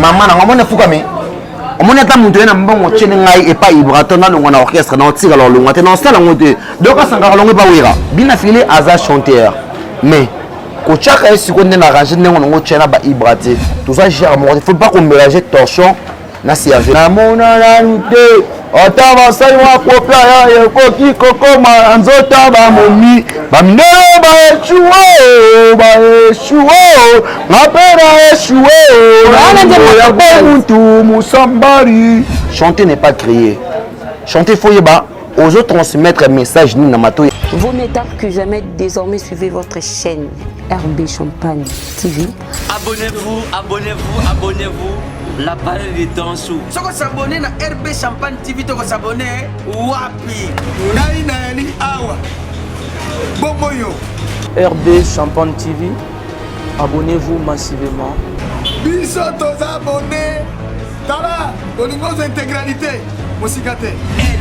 mama nango omoni efukami omoni ata moto ye na mbongo otyeli ngai epai ibraton nalongwa na orchestre naotika lolongwa te naosala yango te donc asangaka longo epa wira bina fili aza chanteur mais kotyaka ye sikoyo nde na range ndenge nango otya na baibra te toza genre moko te faut pas komélange torsion na serge namona nanu te ata basali mwa kope aya ekoki kokoma na nzoto ya bamomi bamindele baeshuwe baeshuwe nga mpe na eshuwe ya bomuntu mosambari chanter n'est pas crier chanter faut yeba ozo transmettre message nini na matoi vaut mieux tard que jamais désormais suivez votre chaîne RB Champagne TV Abonnez-vous, abonnez-vous, abonnez-vous. La balle est en sous. Soko s'abonner na RB Champagne TV toko s'abonner wapi? Ngai na yali awa. Bongo yo. RB Champagne TV. Abonnez-vous massivement. Biso toza abonné. Tala, olingo intégralité. Mosika te.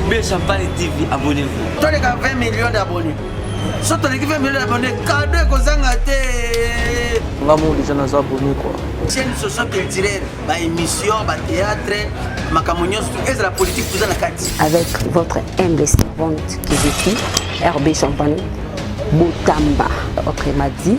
RB Champagne TV, abonnez-vous. Toleka 20 millions d'abonnés. soki toleki mpe mbele na bande kado ekozanga te nga mo deja naza bomi kua chaîne socio culturelle baémission batéâtre makambo nyonso tu ezala politique toza na kati avec votre humble servante kiziki rb champagne botamba ok madi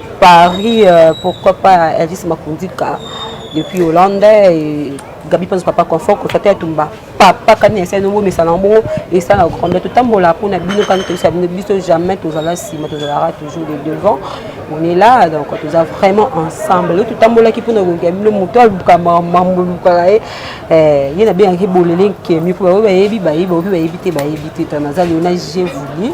Paris, euh, pourquoi pas Elvis Makundika depuis Hollande et Gabi Panzo Papa Confort, Kofate Atumba. Papa kani ese no bo mesana bo esa na grande totambola pona bino kani to sabino biso jamais tozala sima tozalaka toujours de devant on est là donc toza vraiment ensemble le totambola ki pona kokia bino moto aluka mambo luka ye eh ye na bien ki bolele nkemi po ba yebi ba yebi ba yebi te ba yebi te tana zali on a j'ai voulu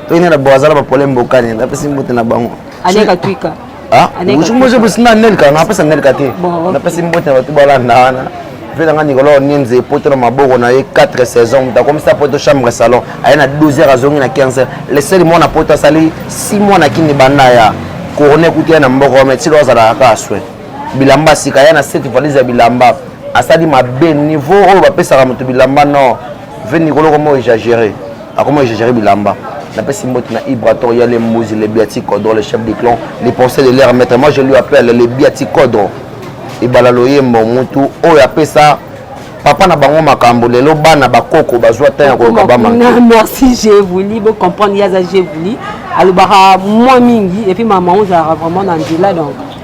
to ina na bwazala ba pole mbokani na pesi mbote na bango aneka twika ah musu moje busina nelka na pesa nelka te na pesi mbote na batu balanda wana mpe nanga nikolo nienze epoto na maboko na ye 4 saison moto akomisa poto chambre salon aye na 12 heures azongi na 15 heures leseli mwana poto asali 6 mois na kini banda ya korone ekuti ye na mboko wana etilo azalaka kaka swe bilamba sika ya na seti valise ya bilamba asali mabe niveau oyo bapesaka moto bilamba nord Ve Nicolo comme on exagéré. A comment exagéré bilamba. La paix symbolique na Ibrator, il y a les Mouses, les Biaticodro, les chefs du clan, les pensées de l'air maître. Moi je lui appelle les Biaticodro. Et balaloye moutu, oh ya paix ça. papa na bango makambo lelo bana bakoko bazwa ntan ya koluka bamana merci je voulu bocomprendre yaza je voulu alobaka mwa mingi epuis mama ozalaka vraiment na nzela donc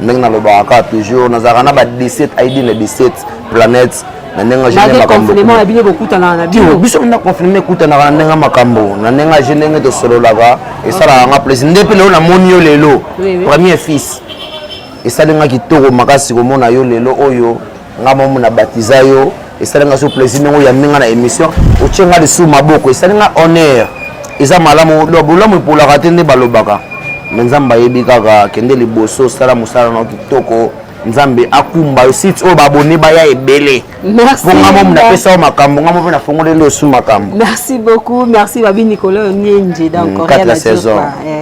ndenge nalobaka kaka toujours nazalaka na ba 17 id na 17 planète na ndenge biso na confinement ekutanaka na ndenge makambo na ndenge aje ndenge tosololaka esalaka nga plaisir nde mpe lelo namoni yo lelo premier fils esali nga kitoko makasi komona yo lelo oyo nga mamu na batiza yo esali nga so plaisir ndenge oyambi nga na émission otye nga lisusu maboko esali nga honneur eza malamu bolamu epolaka te nde balobaka me nzambe ayebi kaka kende liboso sala mosala na kitoko nzambe akumba yo site oyo baabone baya ebele mpo nga momi napesa yo makambo nga momi nafongoleli osu makambo merci beaucoup merci babi nicolas onyenje donc mm, 4 saison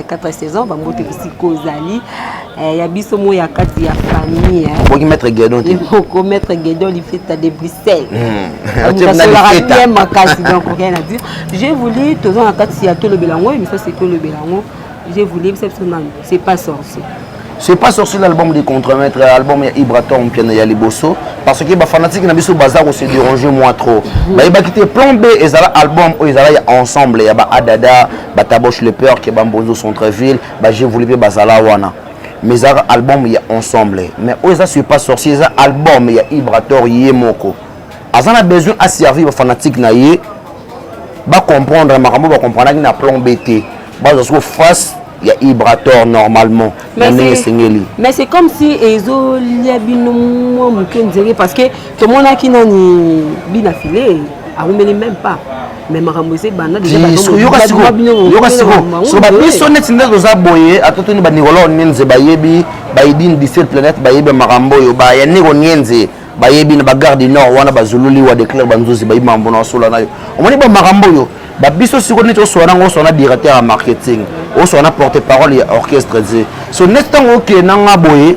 4 saison bango te bisika ozali Eh, ya biso moi ya kati ya famille eh. okoki maître guedon te oko maître guedon lifeta de bruxelles asolaka hmm. bien makasi donc rien à dire j'ai voulu toza na kati ya tolobela yango emission se tolobela yango j'ai voulu bisa biso nani c'est pas sorcier c'est pas sorcier l'album de contremaître album ya ibratom piano ya liboso parce que bafanatique na biso baza kose déranger moi trop mhm. bayebaki te plan b ezala album oyo ezala ya ensemble ya baadada bataboche le peur ke bambonzo centreville ba je voulais pe bazala wana mais ezalaka album ya ensemble mais oyo eza sur pas sorcier eza album ya ibrator ye moko aza na besoin aservir bafanatique na ye bacomprendre makambo bacomprendaki na plan b te bazwa soko face ya ibrator normalement na ndenge esengeli mais c'est comme si ezolia bino mwa moke nzenge parce que tomonaki nani bina file awumeli même pas mais makambo eza ebanda yoka sikoyo so babiso neti nde toza boye atotoni banikolo nienze bayebi baidine disel planète bayebi makambo oyo baya niko nienze bayebi na bagare du nord wana bazululi wa declare banzuzi bayebi makambo na osola nayo omoni ba makambo oyo babiso sikoyo neti osola nango osola na directeur ya marketing osola na porte parole ya orchestre ze so neti ntango okende nanga boye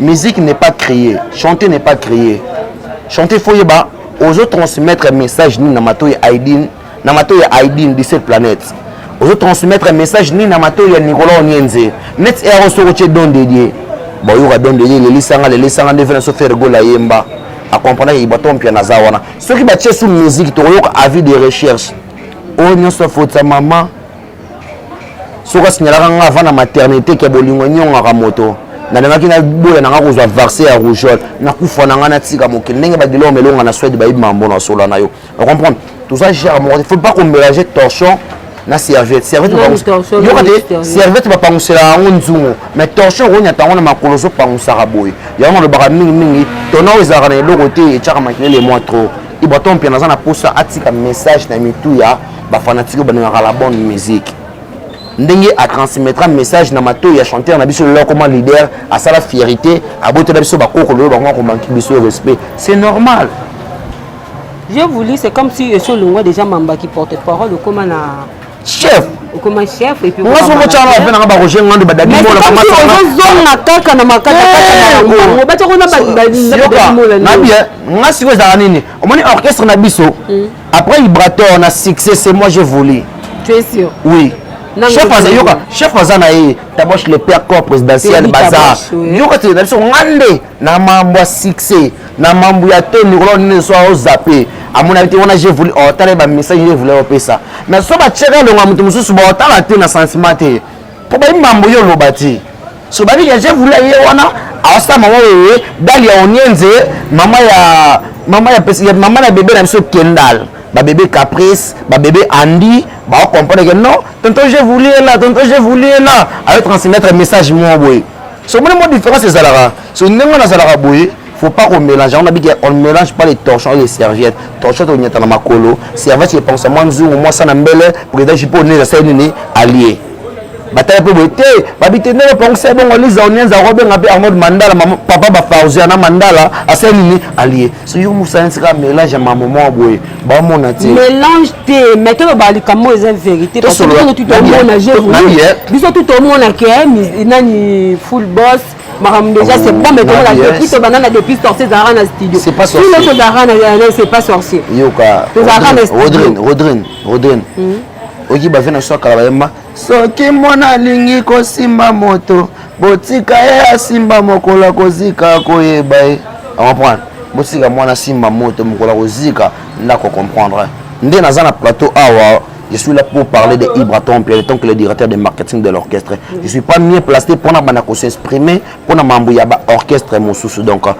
musique n'est pas créé chanter n'est pas créé chanter faut yeba ozo transmettre message nini na matoi ya aidin na matoi ya aidin 17 planète ozo transmettre message nini na matoi ya nicolas onienze net ero soki otie don dedie bayoka don dedie lelisanga lelisanga nde vena so faire gola yemba akomprendaki bato mpia naza wana soki batie su musique tokoyoka avis de recherche oyo nyonso afotisa mama soki asignalaka nga avant na maternité ke bolingo enyongaka moto nalingaki naboya na nga kozwa varse ya rougeole nakufa na nga natika mokili ndenge badilor melonga na swede bayebi mambo na sola na yo ocomprendre toza gere moko te faut pas komelage torchon na serviette serviette yoka te serviette bapanguselaka yango nzungu mais torchon okonyata yango na makolo ozopanguisaka boye yango nalobaka mingimingi tona oyo ezalaka na eloko te etyaka makelele mwa trop ibaton mpe naza na mposa atika message na mitu ya ba fanatique balingaka la bonne musique ndenge a transmettra message na mato ya chanteur na biso lelo koma leader asala fierité abotela biso bakoko lelo bango akomanki biso respect c'est normal je vous lis c'est comme si esi olongwa déjà mamba qui porte parole okoma na chef okoma chef et puis nga somo chana pe nanga ba Roger Ngando badadi mola kama ça ozo zonga kaka na makata kaka na eh, bango bacha kona badadi na badadi mola na bien nga siko ezala nini omoni orchestre na biso hmm. Après Librator na succès c'est moi j'ai volé. Tu es sûr? Oui. chef aza yoka chef aza na ye taboche le père corps présidentiel baza yoka te na biso nga nde na mambo ya succès na mambo ya te mikolo nini so ozape amonaki te wana jevuli otala ye bamessage jevuli opesa mais so batiaka elongo ya moto mosusu baotala te na sentiment te mpo bayebi mambo yo oloba te so babi ya je voulais ye wana awasala mama oyo dali ya onienze mama ya mama ya pesi ya mama na bebe na biso kendal ba bebe caprice ba bebe andy ba comprendre que non tonton je voulais là tonton je voulais là avec transmettre message mo boye so moni mo différence ezalaka so ndenge wana azalaka boye faut pas qu'on mélange on a dit qu'on ne mélange pas les torchons et les serviettes torchon tonyata na makolo serviette epangusa mwa nzungu mwa sana mbele président jipo neza sali nini allie batala mpe boye te babite ndenge opangisa ebongo liza onienza akobenga mpe arnold mandala papa bafarzia na mandala asali nini alie so yo mosanisi kaka mélange ya mamoma boye bamona te mélange te mais toloba likambo eza vérité biso tout omona ke nani full boss makambo déjà c'est bon mais tokola depuis tobanda na depuis sorcier ezalaka na studio tout le tozalaka na c'est pas sorcier yoka tozalaka na studio rodrine rodrine rodrine hmm. oki bave na so akala bayemba soki mwana alingi kosimba moto botika ye asimba mokolo akozika koyeba ye comprendre botika mwana asimba moto mokolo akozika ndako comprendre nde naza na plateau awa Je suis là pour parler de Ibra Temple, étant que le directeur de marketing de l'orchestre. Je ne suis pas mieux placé pour s'exprimer pour Mambouyaba orchestre Moussousou. Donc,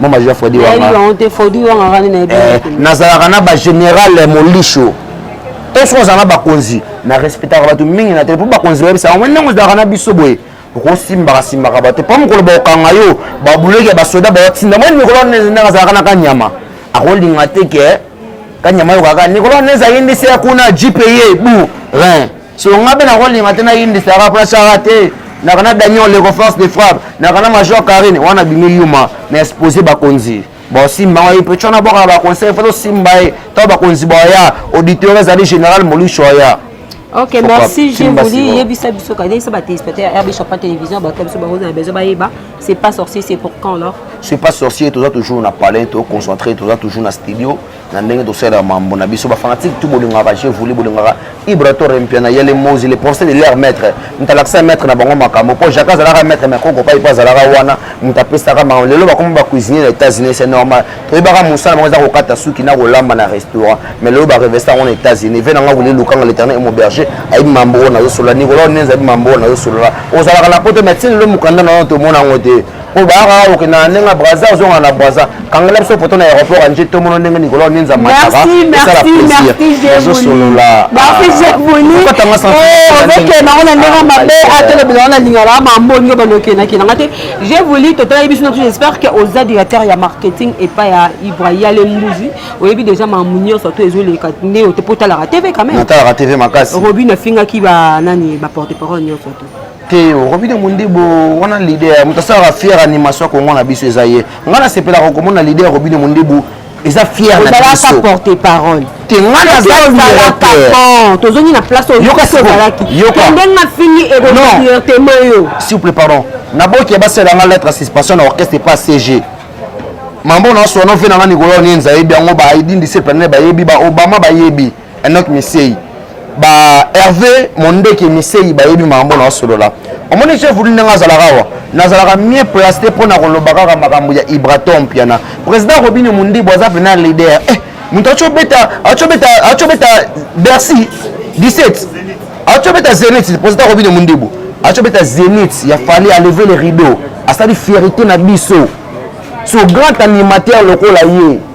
mama jean fredi nazalaka na bagénéral molisho to soki ozala na bakonzi na respectaka bato mingi na tele mpo bakonzi bayebisa yango ndenge ozalaka na biso boye okosimbaka simbaka bato mpo mokolo bakokanga yo babuleki ya basoda baotinda mwa mikolo wana ndenge azalaka na kanyama akolinga te ke kanyama yo kaka nikolo wana ezali ndisi ya kuna gpa bu rin so nga mpe nakolinga te nayindi sara mpo nasara te naka na daniel leko force de frappe naka na major carine wana bimi yuma na expose bakonzi baosimba ngai mpe tyo nabwaka baconseil fo tosimba ye to bakonzi baya auditeur ezali général molusho aya ok merci je vous dis yebisa biso kanisa batéléspectateur ya rb champagne télévision bato biso bakozala besoin bayeba c'est pas sorcier c'est pour quand alors c'est pas sorcier toza toujours na palais toconcentré toza toujours na studio na ndenge tosalela mambo na biso bafanatike tu bolingaka je vouli bolingaka ibrator mpiana yele mosi le procès de leur maître moto alakisa maître na bango makambo mpo jacques azalaka maître mais koko pai mpo azalaka wana moto apesaka makambo lelo bakoma bacuisinier na états-unis c'est normal toyebaka mosala bango eza kokata suki na kolamba na restaurant mais lelo barevesta yango na états-unis ve nanga wili lukanga l'éternel et mon berger ayebi mambo oyo nazosolola nikolo ndenza ayebi mambo oyo nazosolola ozalaka na poto mais ti lelo mokanda na yo tomona yango te oyo bayaka kaka kokenda na ndenge ya braza ozonga na braza kangela biso poto na aéroport ya nje tomono ndenge nikolo ya ninza mataka esala plaisirozosololatanga santiozokendako na ndenge mabe atelobela wana lingala ya mambongi oyo balokendaki nanga te je voulu totalaki biso nabiso j'espère que oza directeur ya marketing epai ya ibra yale mbuzi oyebi déjà mamu nyonso to ezoleka nde ote mpo otalaka tv quand même natalaka tv makasi robin afingaki banani baporte parole nyonso to te okobi na mondibu wana leader moto asalaka fiere animation ya kongo na biso eza ye ngai nasepelaka komona leader okobi na mondibu eza fiere na biso porte parole te ngai nazalaka tozongi na place oyokasiozalaki ndenge nafingi ekodirtema yo souple pardon naboki ya basala ngai lettre suspension na orchestre epa cg mambo na oswana ofe na ngai nikolo nienza yebi yango baidindise planene bayebi baobama bayebi Enoch Misei ba Hervé Mondeke Misei bayebi makambo na osolola omoni chef uli ndenge azalaka awa nazalaka mieux placé mpo na koloba kaka makambo ya Ibraton Mpiana président Robinho Mundibu aza pena leader eh, moto acobeta acobeta acobeta Bercy 17 acobeta Zenith président Robinho Mundibu acobeta Zenith ya Fally a lever le rideau asali fierité na biso so grand animateur lokola ye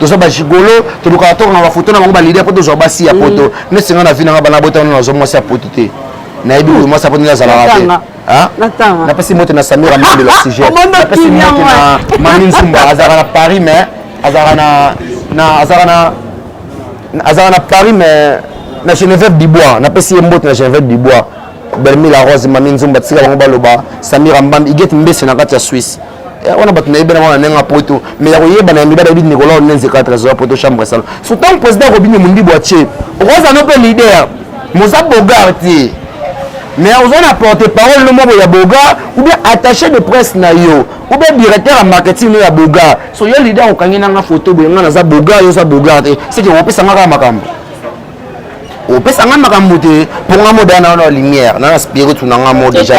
toza bajigolo tolukaka tokanga bafoto na bango balide po tozwa basi ya poto mm. neti nga na vi nanga bana botana nazwa mwasi ya poto te nayebi oyo mwasi ya poto nde azalaka te napesi mote na samira mande la sujet napesi mote na mami nzumba azalaka na paris mais azalaka na azalaka na azalaka na paris mais na geneveve bibois napesi ye mbote na geneveve bibois belmi la rose mami nzumba tika bango baloba samira mbambi igete mbese na kati ya swisse Eh, wana bato nayebi na mwana ndenge apoto mais ya koyebana ya mibali ayebi nicolas onenze katre azoya poto chambre salon so ntango président akobini mondibu atie okoza no mpe leader moza bogar te mais oza na porte parole no moko ya bogar ou bien attaché de presse na yo ou bien directeur ya marketing no ya bogar so yo leader okangi nanga foto boye ngai naza bogar yo oza bogar te seke okopesa nga kaka makambo opesa nga makambo te mpo nga moda na na lumière na na spirit na nga mo déjà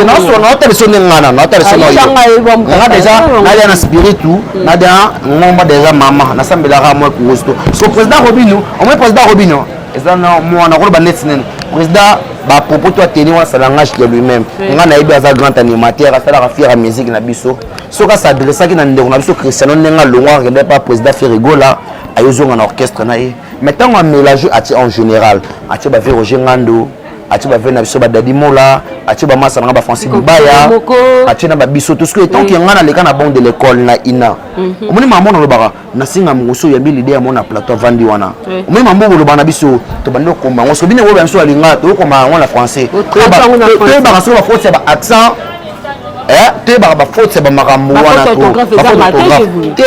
naosona otaliso nde nga na naotaliso na yo nga déjà nalia na spiritu nalia ngomba déjà mama nasambelaka mwa kurusto so président robino omoi président robino eza na mwana koloba neti nene président bapropos to ateni wana sa langage de lui-même nga nayebi aza grand animateur asalaka fier ya musique na biso soki asadressaki na ndeko na biso christiano ndenge alongwaka kende pa président ferigola ayozonga na orchestre na ye mais ntango amelage atie en général atie bave roger ngando atie bave na biso badadi mola atie bamasa na nga bafrancis bibaya atie na babiso tosuki etant ke ngai naleka na banque de l'école na ina mhm. omoni mama mona olobaka nasenga mokosi oyambi lide ya mona plateau avandi wana omoni mama moko olobaka na biso tobandi kokoma yango soki bino ekoyeba biso alingaka tokokoma yango na français toyebaka soki bakoti ya ba accent eh, toyebaka bafaute ya bamakambo wana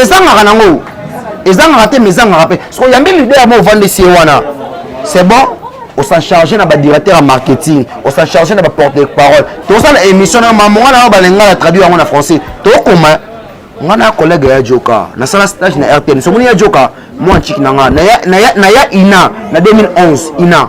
ezangaka nango ezangaka te mais ezangaka mpe soko yambi leader mo ovandisi ye wana c'est bon osan charge na badirecteur ya marketing osan charge na baporte de parole tosala émission na mamonga na yo balinga na traduire yango na français tokoma nga na collègue ya joka nasala stage na rtn somoni ya joka mwa ntiki na nga naya ina na 2011 ina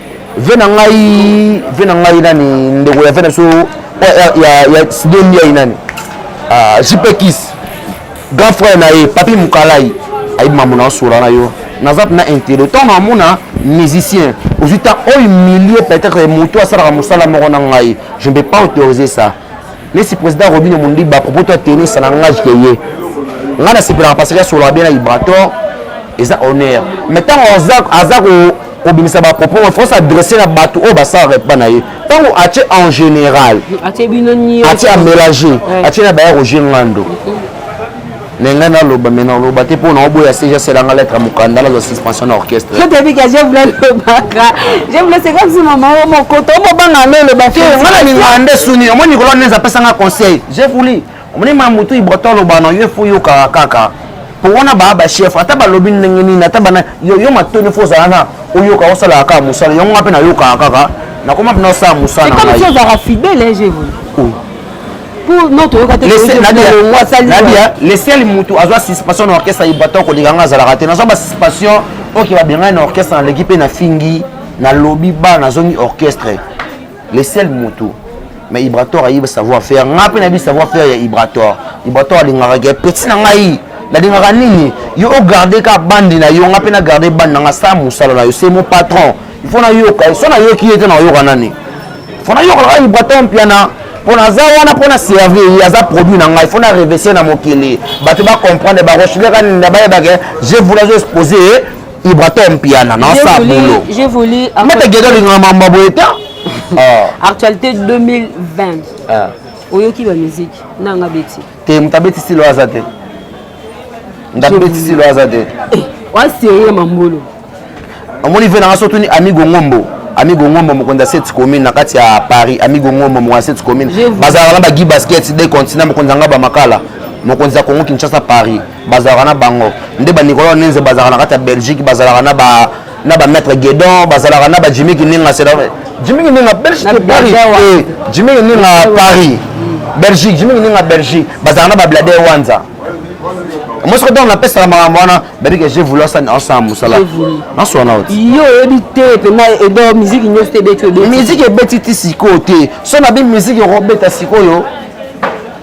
ve na ngai ve na ngai nani ndeko ya ve na biso ya sido ndiai nani ah, jp kis grand frère na ye papi mokalai ayebi mambo na osola na yo naza mpena intérêt ntango namona musicien ozwi ntango oyo milieu peut-être moto asalaka mosala moko na ngai je ne peux pas autoriser ça Lesi president Robino Mundiba propos toi tenir ça n'engage que ye. Nga na sepelaka parce que asolaka bien na Ibrator eza honneur. Mais ntango aza aza ko kobimisa ba propos il faut s'adresser na bato oyo basalaka epa na ye. Ntango atie en général. Atie bino nio. Atie amélanger. Atie na baya Roger Ngando. mais ngai naloba mais naloba te mpo naoboya se jasela nga lettre ya mokanda nazwa suspension na orchestre otebika je voulais lobaka je voulais c'est comme si mama o mokoto omobanga ndo oloba te nga na lingaka nde suni omoni nikolo nde apesa nga conseil je voulais omoni ma motu ibrota oloba na yo efo yokaka kaka mpo wana baa bachef ata balobi ndenge nini ata bana yo matoni efo ozala na oyoka osalaka kaka mosala yango nga mpe nayokaka kaka nakoma mpe nasala mosala na ngai lesel mutu azwa suspension na orchestre ya ibaton koleka nga azalaka te nazwa basuspension oke babengani na orchestre naleki mpe na fingi nalobi ba nazongi orchestre lesel mutu mais ibrator ayebi savoir faire nga mpe nayebi savoir faire ya ibrator ibrator alingaka ke peti na ngai nalingaka nini yo ogarde ka bandi na yo nga mpe nagarde bandi na nga sa mosala na yo se mo patron fo nayoka ye so nayoki ye te nayoka nani fo nayoka kaka ibraton mpiana mpo naza wana mpo na servir ye aza produit na ngai fo na revese na mokili bato bacomprendre barochileka nenda bayebake je voulu azo expose ye ibraton mpiana na sa bolo mata geda olingaka mambo boye te ah. actualité 2020 ah. oyoki bamiziki nanga beti te moto abeti stilo aza te ndabeti silo aza te eh, wa serie mambolo omoni ve nanga sotuni amigo ngombo amigo ngombo mokonzi ya sete commune na kati ya paris amigo ngombo mokonzi ya sete commune bazalaka na bagi basket de continent mokonzi yanga bamakala mokonzi ya congo kinshasa paris bazalaka na bango nde banikolo nenze bazalaka na kati ya belgique bazalaka na ba na ba maître Guédon bazalaka na ba Jimmy Kininga c'est Jimmy Kininga Belgique Paris eh, Jimmy Kininga Paris Belgique Jimmy Kininga Belgique bazalaka na ba Blade Wanza moi soki ntango napesaka makambo wana babike je voulu asani asala mosala naswana oti yo oyebi te mpena edo miziki nyonso te ebeti miziki ebeti ti sikoyo te so nabi miziki okobeta sikoyo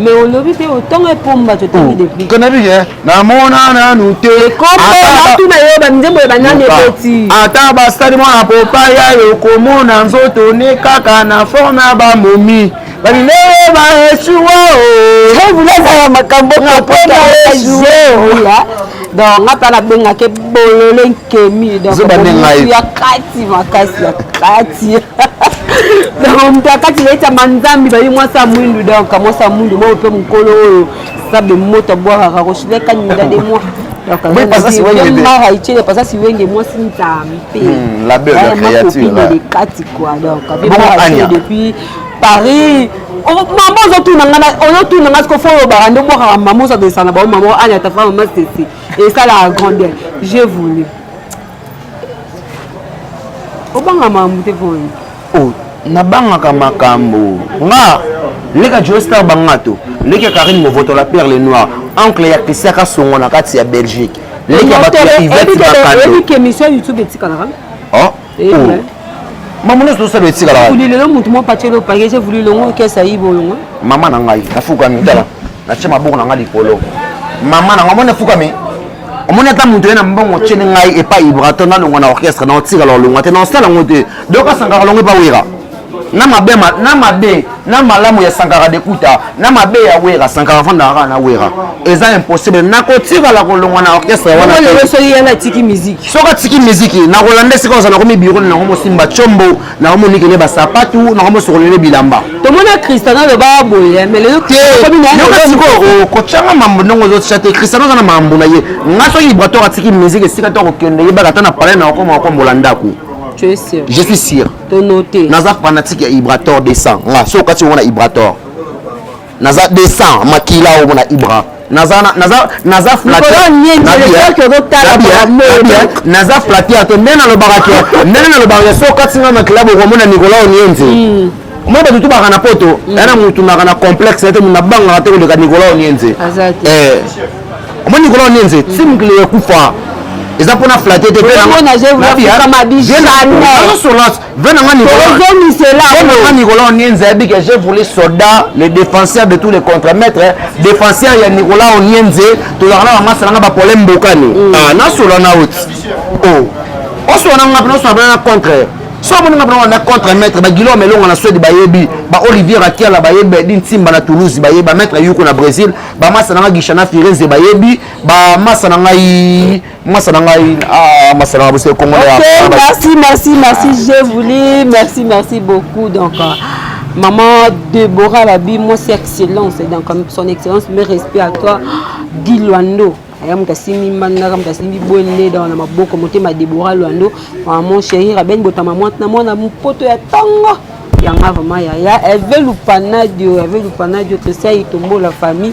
Mais olobi te otonga epomba totangi oh, depuis. Kana bi hein. Na mona na nu te. Ekombo na tu na yo ba nzembo ya banani eboti. Ata ba stade mwana popa ya yo komona nzoto ne kaka na forme ya ba momi. Balilele ba esuwa o. Hey, vous avez la makambo na pona esuwa. Ola. Donc nga pa na benga ke bolole nkemi. Donc ya kati makasi ya kati. donc moto akati leta manzambi bayi mwasi ya mwindu donc mwasi ya mwindu bao mpe mokolo oyo sabe moto abwakaka koshile kaninga de moi mara icele pasa siwenge mwasi nzambe de kati kua donc depuis paris oh, mama ozotuna nga ozotuna nga siko fo olobaka nde obwakaka mama ozadesana bao mama anya tafa mama sesi esalaka grandeur je voulu obanga makambo te mpo oh, nabangaka makambo nga leka joestar bangato leki ya karine movoto la perle noire oncle ya christian kasongo na kati ya belgique leki ya bato ya ivete bakanoemission youtube etikalaka oh, eh, oh. mama nyonso tosala etikalaka lelo motu mwa pacelo pake je vulu longo kesa yibo longo mama na ngai nafukami tala natie maboko na ngai likolo mama na ngai omoni efukami omoni ata moto ye na mbongo otyeli ngai epai ibrato nalongwa na orchestre na otikala olongwa te na osala yango te doka sankara longo epa wera na mabe na mabe na malamu ya sankara dekuta na mabe ya wera sankara afandaka kaka na wera eza impossible nakotikala kolongwa na orchestre wanasoki atiki miziki nakolanda esika oza nakomi biro na yango mosimba combo nakomonikele basapatu nakomosokolele bilamba tomona cristiano aloba boye melelokocanga mambo ndongo ozotya te cristiano oza na mambo na ye nga soki libratoire atiki musike esika to akokende yebaka ata na palai na okoma okombola ndako je suis sûr naza fanatique ya ibrator 200 nga so okati yango na ibrator naza descend makila oyo na ibra naza naza naza flatte naza flatte ya te nde nalobaka ke ndenge nalobaka ke soki okati nga makila bokomona nicolas onienze hmm. moi bato tubaka na poto hmm. ya na motu naka na complexe na te motu nabangaka te koleka nicolas onienze eh. omoni nicolas onienze hmm. ti mokili ekufa eza mpona flatte te Venanga Nicolas Onienza a dit que j'ai voulu soldat, le défenseur de tous les contre-maîtres, défenseur ya Nicolas Onienza, tozalaka na bango asalanga ba problème bokani. Mm. Ah, na solo na out. Oh. Oso na ngapna oso na contre. So moni ngapna na contre maître ba Guillaume Elonga na Suède ba yebi, ba Olivier Akiala ba yebi, din Simba na Toulouse ba yebi, ba maître Yuko na Brésil, ba masa na Gishana Firenze ba yebi, ba masa na ngai mwasa na ngai ah, mwasa na ngai bosi ekongo na ok merci merci merci ah. j'ai voulu merci merci beaucoup donc euh, maman Deborah Babi mwasi excellence donc euh, son excellence mes respect à toi Guy Luando aya moto asimbi mbangaka moto asimbi bwende dawa na maboko motema Deborah Luando maman chérie Rabène botama mwana mwana mpoto ya tongo yanga vraiment yaya eve lupanadio eve lupanadio tosai tombola famille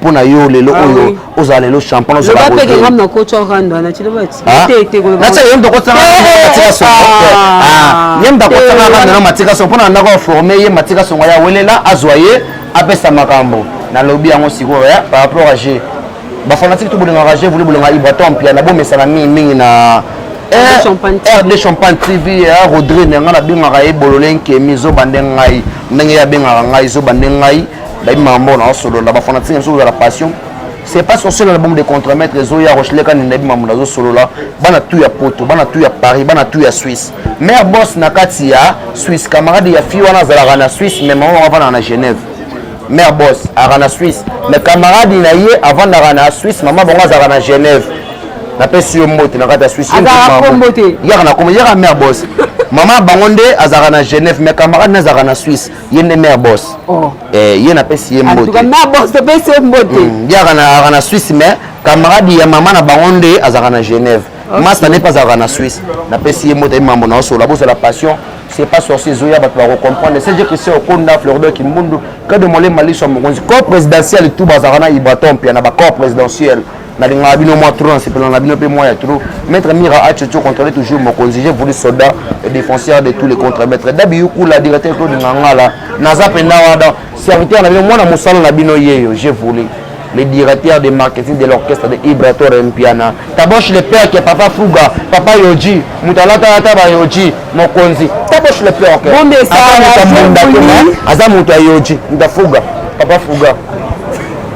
mpo na yo lelo ah oyo ozala lelo champagne ozala boye loba pe ngam na kocha rando na chilo ba ah. te te koloba na chilo yemba kocha rando eh, na tika so ah. ah yemba kocha eh, rando na matika so mpo na ndako former ye matika so ya welela azwa ye apesa makambo na lobi yango sikoyo ya eh, par rapport à je ba fanatique to bolinga rage voulu bolinga ibratom pia na bomesana mingi mingi na rd champagne tv rodri na ngai nabengaka ye bolole nkemi zoba nde ngai ndenge ye abengaka ngai zoba nde ngai bayebi mambo na osolola bafanatike biso kozala passion c'est pas sorcier na bombe de contremaître ezoya rocheleka nini nayebi mambo nazosolola bana tu ya poto bana tu ya paris bana tu ya suisse mare bos na kati ya suisse camarade ya fille wana azalaka na suisse mais mama avandaka na genève mare bos azalaka na suisse mais camarade na ye avandaka na suisse mama bango azalaka na genève napesi yo mbote na kati ya suisse yaka na kombo yaka mare bos mama bango nde azalaka na genève mais camarade na azalaka na suisse ye nde mère boss oh. eh, ye napesi ye mbote mm, ye aka na suisse mais camarade ya mama na bango nde azalaka na genève okay. masta nde mpe azalaka na suisse napesi ye mbote ye mambo na osolola bozala passion c'est pas sorcier ezoya bato bakocomprendre cg christian okonda flordo kimbundu kade molema liso ya mokonzi corps présidentiel tout bazalaka na ibraton mpia na bacorps présidentiel nalingaka bino mwa trop nasepela na bino mpe mwa ya trop maître mira achocho controle toujours mokonzi j'ai voulu soldat et défenseur de tous les contre maître dabiyukula directeur claude ngangala naza mpenza wana serviteur na bino mwana mosala na bino yeyo j'ai voulu le directeur de marketing de l'orchestre de Ibrator Mpiana. Tabosh le père qui est papa Fouga, papa Yoji, Moutalata Taba Yoji, Mokonzi. Tabosh le père. Bon, mais ça, Aza Mouta Yoji, Mouta Fouga, papa Fouga.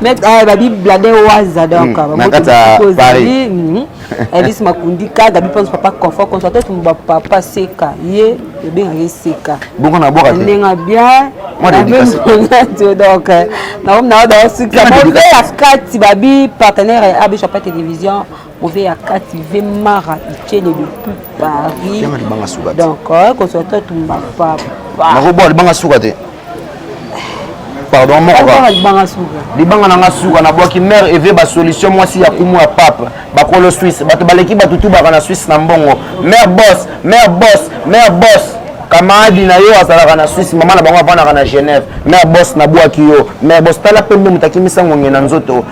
Mais eh, babi blade waza donc hmm, na kati ya Paris. Hmm. Elise eh, Makundika, Gabi Pons papa confort contre toi tout ba papa seka. Ye ebenga ye seka. Bongo na boka. Ndenga bien. Moi l'éducation. Donc eh, na na da sika. Ba kati babi partenaire ya Abisha Télévision. oze ya kati ve mara icene depuis paris donc euh, kozwa to tumba papa nakoboa libanga suka te pardon mokoka libanga na nga suka nabwaki mare eve basolution mwasi ya kumu ya pape bakolo swisse bato baleki bato tubaka na swisse na mbongo mare bos mare bos mare bos kamaradi na yo azalaka na swisse mama na bango avandaka na genève mare bos nabwaki yo mare bos tala mpe nde moto akimisa ngonge na nzoto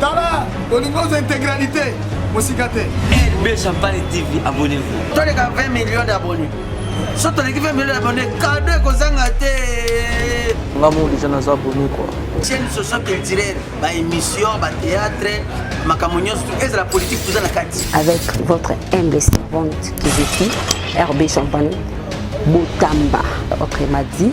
tala olingi oza integralité mosika te lb champagne tv abonnez-vous toleka 20 millions d'abonnés so toleki 20 millions d'abonnés kado ekozanga te nga mo deja naza abonné quoi chaîne socio culturelle ba émission ba théâtre makambo nyonso tu ezala politique toza na kati avec votre humble servante kiziki rb champagne botamba ok madi